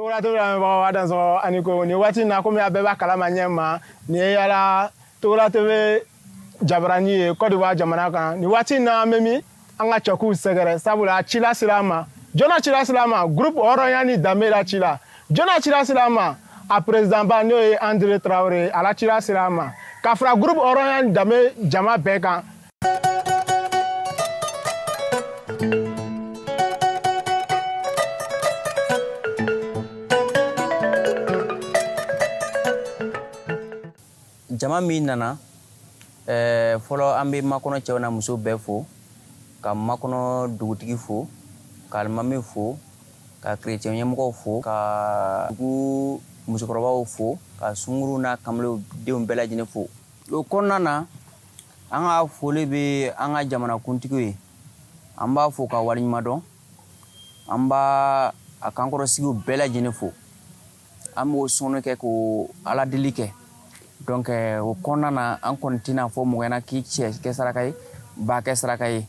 tɔgɔla tɔgɔla lamɛnbagaw a dansɔgɔ ani ko nin waati na komi a bɛɛ b'a kalama ɲɛ ma nin ye yala tɔgɔla tebe jabarani ye kɔdiwa jamana kan nin waati na an bɛ min an ka cɛkuw sɛgɛrɛ sabula ci lasera an ma jɔn na ci lasera an ma groupe hɔrɔnya ni danbe la ci la jɔn na ci lasera an ma a perezidanba n'o ye andre tarawele a la ci lasera an ma ka fara groupe hɔrɔnya ni danbe jama bɛɛ kan Jama min nana ɛɛ fɔlɔ an bɛ makɔnɔ cɛw n'a musow bɛɛ fo ka makɔnɔ dugutigi fo ka alimami fo ka kerecɛn ɲɛmɔgɔw fo ka dugu musokɔrɔbaw fo ka sunguruw n'a kamalenw denw bɛɛ lajɛlen fo o kɔnɔna na An ka foli bɛ an ka jamanakuntigi ye an b'a fo k'a waleɲumandɔn an b' a kankɔrɔsigiw bɛɛ lajɛlen fo an b'o sɔn kɛ ka ala deli kɛ donc o kɔnɔna na an kɔni tɛna a fɔ mɔgɔ ye k'i syɛ kɛ saraka ye ba kɛ saraka ye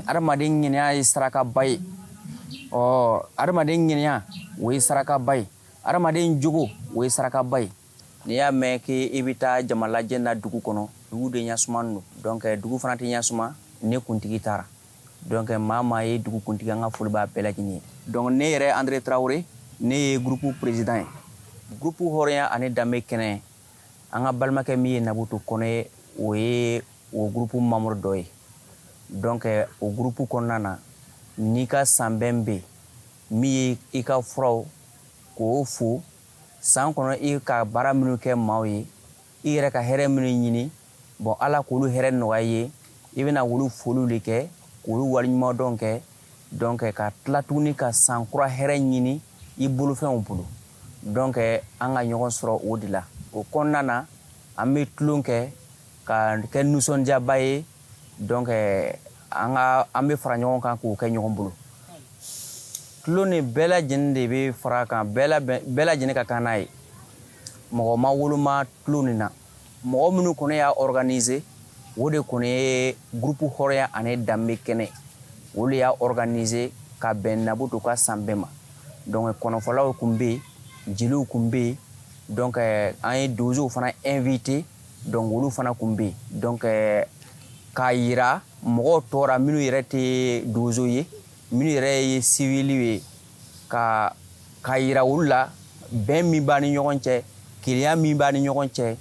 adamadenya ye sarakaba ye ɔ adamadenya o ye sarakaba ye adamaden jugu o ye sarakaba ye N'i y'a mɛn k' i bɛ taa jamalajɛ na dugu kɔnɔ dugu de ɲasuma don donc dugu fana tɛ ɲasuma ni kuntigi t'a ra donc maa maa ye dugukuntigi an ka foli b'a bɛɛ lajɛlen ye donc ne yɛrɛ andre tarawele ne ye groupe perezidan ye groupe hɔrɔnya ani danbe kɛnɛ an ka balimakɛ min ye Nabu Togo ye o ye o groupe membre dɔ ye donc o groupe kɔnɔna na n'i ka sanbɛn bɛ yen min ye i ka furaw k'o fo San kɔnɔ i ka baara minnu kɛ maaw ye, i yɛrɛ ka hɛrɛ minnu ɲini, bon Ala k'olu hɛrɛ nɔgɔya i ye, i bɛna olu foliw de kɛ, k'olu waleɲumandɔn kɛ, donc ka tila tuguni ka san kura hɛrɛ ɲini i bolofɛnw bolo, donc an ka ɲɔgɔn sɔrɔ o de la. O kɔnɔna na, an bɛ tulon kɛ ka kɛ nisɔndiyaba ye. Donc an ka an bɛ fara ɲɔgɔn kan k'o kɛ ɲɔgɔn bolo tulon nin bɛɛ lajɛlen de bɛ fara kan bɛɛ lajɛlen ka kan n'a ye mɔgɔ ma woloma tulon nin na mɔgɔ minnu kɔni y'a organiser o de kɔni ye groupe hɔrɔnya ani danbe kɛnɛ o de y'a organiser ka bɛn Nabu Togo ka sanbɛn ma donc kɔnɔfɔlaw tun bɛ yen jeliw tun bɛ yen donc an ye donsow fana inviter donc olu fana tun bɛ yen donc eh, k'a yira mɔgɔ tɔw ra minnu yɛrɛ tɛ donso ye minnu yɛrɛ ye siviliw ye ka k'a yira olu la bɛn min b'a ni ɲɔgɔn cɛ kelenya min b'a ni ɲɔgɔn cɛ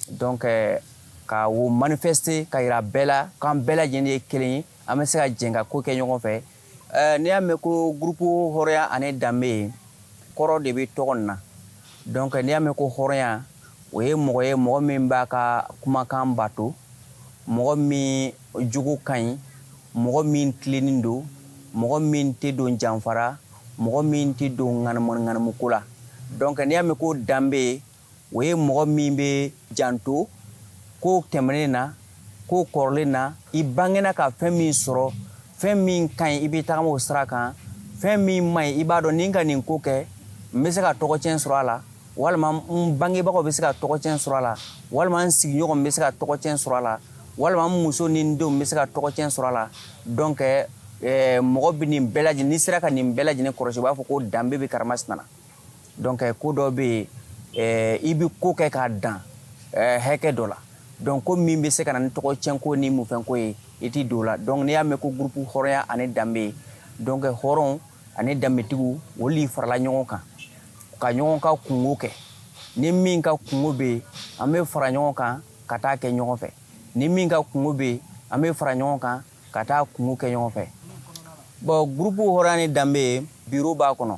donc eh, ka o manifeste ka yira bɛɛ la k'an bɛɛ lajɛlen ye kelen ye an bɛ se ka jɛn ka ko kɛ ɲɔgɔn fɛ Ɛɛ n'i y'a mɛn ko gurupu hɔrɔnya ani danbe ye kɔrɔ de bɛ tɔgɔ in na donc n'i y'a mɛn ko hɔrɔnya o ye mɔgɔ ye mɔgɔ min b'a ka kumakan bato mɔgɔ min jogo ka ɲi mɔgɔ min tilennen don mɔgɔ min tɛ don janfa ra mɔgɔ min tɛ don ŋanamuko la donc n'i y'a mɛn ko danbe ye o ye mɔgɔ min bɛ janto ko tɛmɛnen na ko kɔrɔlen na i bangena ka fɛn min sɔrɔ fɛn min ka ɲi i bɛ taama o sira kan fɛn min man ɲi i b'a dɔn ni n ka nin ko kɛ n bɛ se ka tɔgɔcɛn sɔrɔ a la walima n bangebagaw bɛ se ka tɔgɔcɛn sɔrɔ a la walima n sigiɲɔgɔn bɛ se ka tɔgɔcɛn sɔrɔ a la walima muso ni denw bɛ se ka tɔgɔcɛn sɔrɔ a la donc mɔgɔ bɛ nin bɛɛ lajɛlen n'i sera ka nin bɛɛ lajɛlen kɔlɔsi b'a fɔ ko danbe bɛ karamasina donc ko dɔ bɛ yen eh, i bɛ ko kɛ k'a dan eh, hakɛ dɔ la donc ko min bɛ se ka na ni tɔgɔcɛnko ni mufɛnko ye i t'i don la donc n'i y'a mɛn ko gurupu hɔrɔnya ani danbe donc hɔrɔn ani danbetigiw olu farala ɲɔgɔn kan ka ɲɔgɔn ka kunko kɛ ni min ka kunko bɛ yen an bɛ fara ɲɔgɔn kan ka taa kɛ ɲɔgɔn fɛ ni min ka kunko bɛ yen an bɛ fara ɲɔgɔn kan ka taa kunko kɛ ɲɔgɔn fɛ bon gurupu hɔrɔnya ni danbe biro b'a kɔnɔ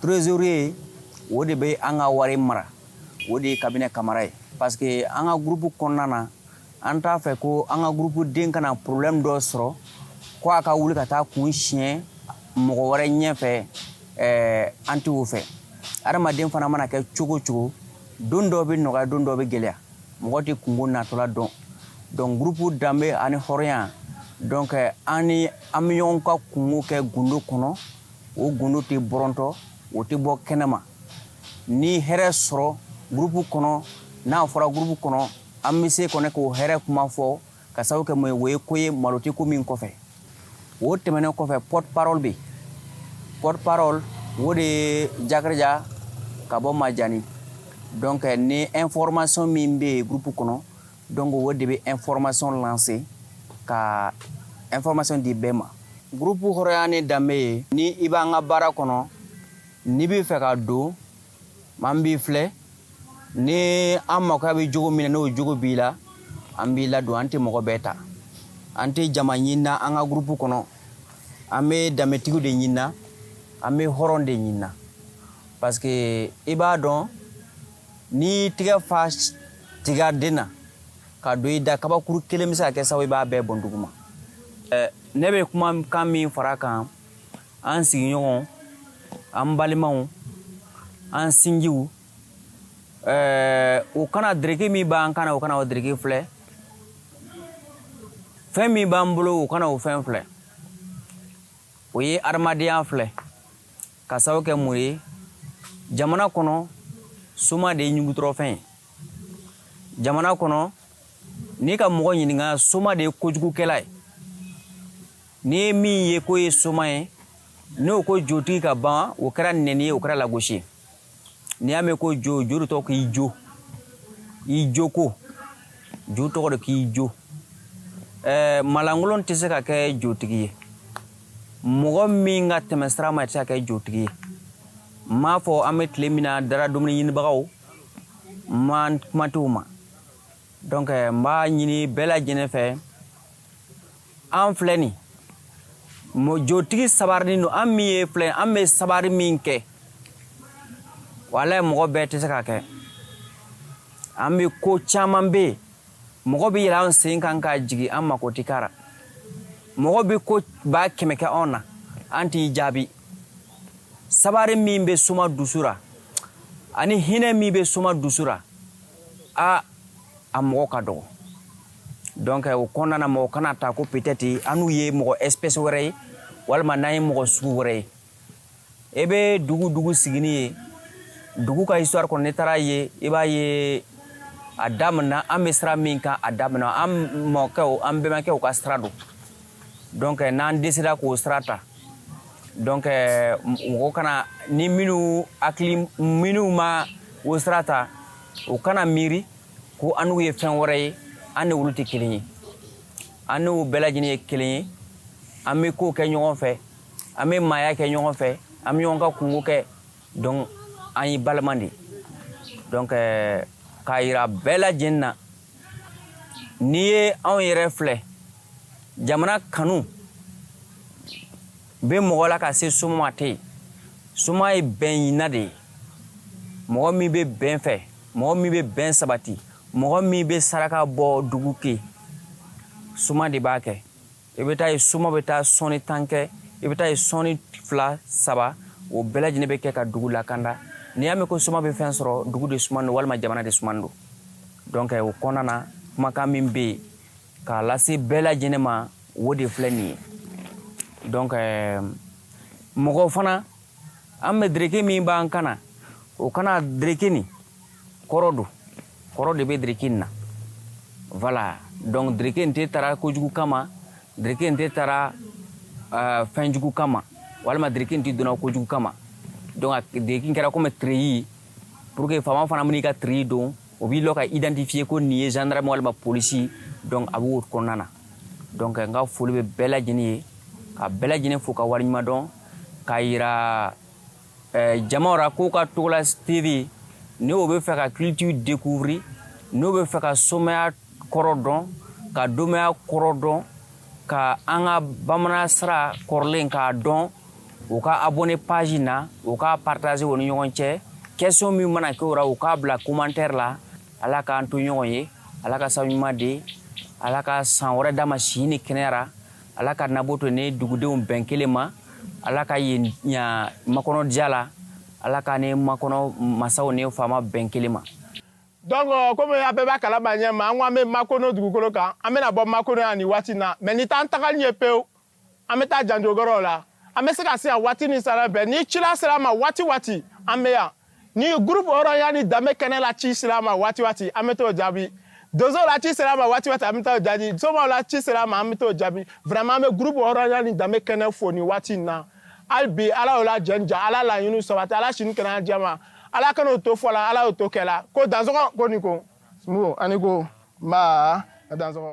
Trésorier o de bɛ an ka wari mara o de ye Kabinɛ Kamara ye parce que an ka gurupu kɔnɔna na an t'a fɛ ko an ka gurupuden kana problème dɔ sɔrɔ ko a ka wuli ka taa kun siɲɛ mɔgɔ wɛrɛ ɲɛ fɛ an t'o fɛ adamaden fana mana kɛ cogo cogo don dɔ bɛ nɔgɔya don dɔ bɛ gɛlɛya mɔgɔ de tun ko natɔla dɔn donc gurupu danbe ani hɔrɔnya donc an an bɛ ɲɔgɔn ka kunko kɛ gundo kɔnɔ o gundo tɛ bɔrɔtɔ o tɛ bɔ kɛnɛma ni hɛrɛ sɔrɔ gurupu kɔnɔ n'a fɔra gurupu kɔnɔ an bɛ se kɔnɔ k'o hɛrɛ kuma fɔ k'a sababu kɛ o ye ko ye malo tɛ ko min kɔfɛ o tɛmɛnen kɔfɛ porte-parole bɛ porte-parole o de ye Jakarija ka bɔ majaani donc ni information min bɛ yen gurupu kɔnɔ Donc o de bɛ information lase ka information di bɛɛ ma gurupu hɔrɔnya ni danbe ye ni i b'an ka baara kɔnɔ n'i b'a fɛ ka don an b'i filɛ ni an makoya bɛ jogo min na n'o jogo b'i la an b'i ladon an tɛ mɔgɔ bɛɛ ta an tɛ jama ɲinina an ka gurupu kɔnɔ an bɛ danbetigiw de ɲinina an bɛ hɔrɔn de ɲinina parce que i b'a dɔn N'i y'i tɛgɛ fa tigaden na ka don i da kabakuru kelen bɛ se ka kɛ sababu i b'a bɛɛ bɔn duguma ne bɛ kumakan min fara kan an sigiɲɔgɔn an balimaw an sinjiw u kana dereki min b'an kan u kana o dereki filɛ fɛn min b'an bolo u kana o fɛn filɛ o ye adamadenya filɛ ka sababu kɛ mun ye jamana kɔnɔ soma de ye ɲugutɔrɔfɛn ye jamana kɔnɔ n'i ka mɔgɔ ɲininka soma de ye kojugukɛla ye n'i ye min ye k'o ye soma ye n'o ko jotigi ka ban o kɛra nɛni ye o kɛra lagosi ye n'i y'a mɛn ko jo jo de tɔgɔ k'i jo i joko jo tɔgɔ de k'i jo ɛɛ malankolon tɛ se ka kɛ jotigi ye mɔgɔ min ka tɛmɛsira ma tɛ se ka kɛ jotigi ye n m'a fɔ an bɛ tile min na dara dumuni ɲinibagaw n ma kuma t'u ma donc n b'a ɲini bɛɛ lajɛlen fɛ an filɛ nin jotigi sabarinin don an min ye filɛ an bɛ sabari min kɛ walayi mɔgɔ bɛɛ tɛ se ka kɛ an bɛ ko caman bɛ yen mɔgɔ bɛ yɛlɛ an sen kan ka jigin an mako tɛ kara mɔgɔ bɛ ko ba kɛmɛ kɛ anw na an t'i jaabi sabari min bɛ soma dusu la ani hinɛ min bɛ soma dusu la a a mɔgɔ ka dɔgɔ donc o kɔnɔna na mɔgɔ kana ta ko peut-être an n'u ye mɔgɔ espèce wɛrɛ ye walima n'an ye mɔgɔ sugu wɛrɛ ye i bɛ dugu dugu sigini ye dugu ka histoire kɔnɔ n'i taara yen i b'a ye a daminɛna an bɛ sira min kan a daminɛna an mɔkɛw an bɛnbakɛw ka sira don donc n'an décidéra k'o sira ta donc mɔgɔ kana ni minnu hakili minnu ma o sira ta u kana miiri ko an n'u ye fɛn wɛrɛ ye an ni olu tɛ kelen ye an n'u bɛɛ lajɛlen ye kelen ye an bɛ kow kɛ ɲɔgɔn fɛ an bɛ maaya kɛ ɲɔgɔn fɛ an bɛ ɲɔgɔn ka kunko kɛ donc an ye balima de donc euh, k'a yira bɛɛ lajɛlen na n'i ye anw yɛrɛ filɛ jamana kanu bɛ mɔgɔ la ka se soma ma tɛ yen soma ye bɛn ɲinina de ye mɔgɔ min bɛ bɛn fɛ mɔgɔ min bɛ bɛn sabati mɔgɔ min bɛ saraka bɔ dugu ye soma de b'a kɛ i bɛ t'a ye soma bɛ taa sɔni tan kɛ i bɛ t'a ye sɔni fila saba o bɛɛ lajɛlen bɛ kɛ ka dugu lakanda n'i y'a mɛn ko soma bɛ fɛn sɔrɔ dugu de sumanen don walima jamana de sumanen don donc o kɔnɔna na kumakan min bɛ yen k'a lase bɛɛ lajɛlen ma o de filɛ nin ye donc euh, mɔgɔw fana an bɛ dereke min b'an kan na o ka na dereke nin kɔrɔ dɔn kɔrɔ de bɛ dereke nin na voilà donc dereke nin tɛ tara kojugu kama dereke nin tɛ tara euh, fɛn jugu kama walima dereke nin tɛ donna kojugu kama donc a dereke kɛra komi tireyi pour que faama fana man'i ka tireyi don o b'i lɔ ka identifier ko nin ye gendarme walima polisi donc a b'o kɔnɔna na donc n ka foli bɛ bɛɛ lajɛlen ye ka bɛɛ lajɛlen fo ka wale ɲuman dɔn k'a yira eh, jamaw ra k'o ka togola tv ni o bɛ fɛ ka culture découvrir n'o bɛ fɛ ka somaya kɔrɔ dɔn ka domaya kɔrɔ dɔn ka an ka bamanan sira kɔrɔlen k'a dɔn u ka abonné page na u ka partager o ni ɲɔgɔn cɛ question min mana kɛ o ra u k'a bila commentaire la ala k'an to ɲɔgɔn ye ala ka sabu ɲuman di ala ka san wɛrɛ d'an ma si ni kɛnɛya ra ala ka nabo to ni dugudenw bɛn kelen ma ala ka yen ɲa makɔnɔ diya la ala ka ne makɔnɔ masaw ni faama bɛn kelen ma donc euh, komi a bɛɛ b'a kalama ɲɛ ma an ko an bɛ makono dugukolo kan an bɛna bɔ makono yan nin waati na mais nin t'an tagali ye pewu an bɛ taa janjogɔrɔw la an bɛ se ka se yan waati ni sara bɛɛ ni cila ser'an ma waati waati an bɛ yan ni gurupu hɔrɔnya ni danbe kɛnɛ la ci ser'an ma waati waati an bɛ t'o jaabi donsow la ci ser'an ma waati waati an bɛ t'o jaabi somaw la ci ser'an ma an bɛ t'o jaabi vraiment an bɛ gurupu hɔrɔnya ni danbe kɛnɛ fo nin waati in na hali bi ala y'o la jɛn ja ala laɲiniw sabati ala si ni kɛnɛya jɛma ala kan'o to fɔ la ala y'o to kɛ la ko dansɔgɔ ko i ni ko Sunkuruuru a ni ko nba a dansɔgɔ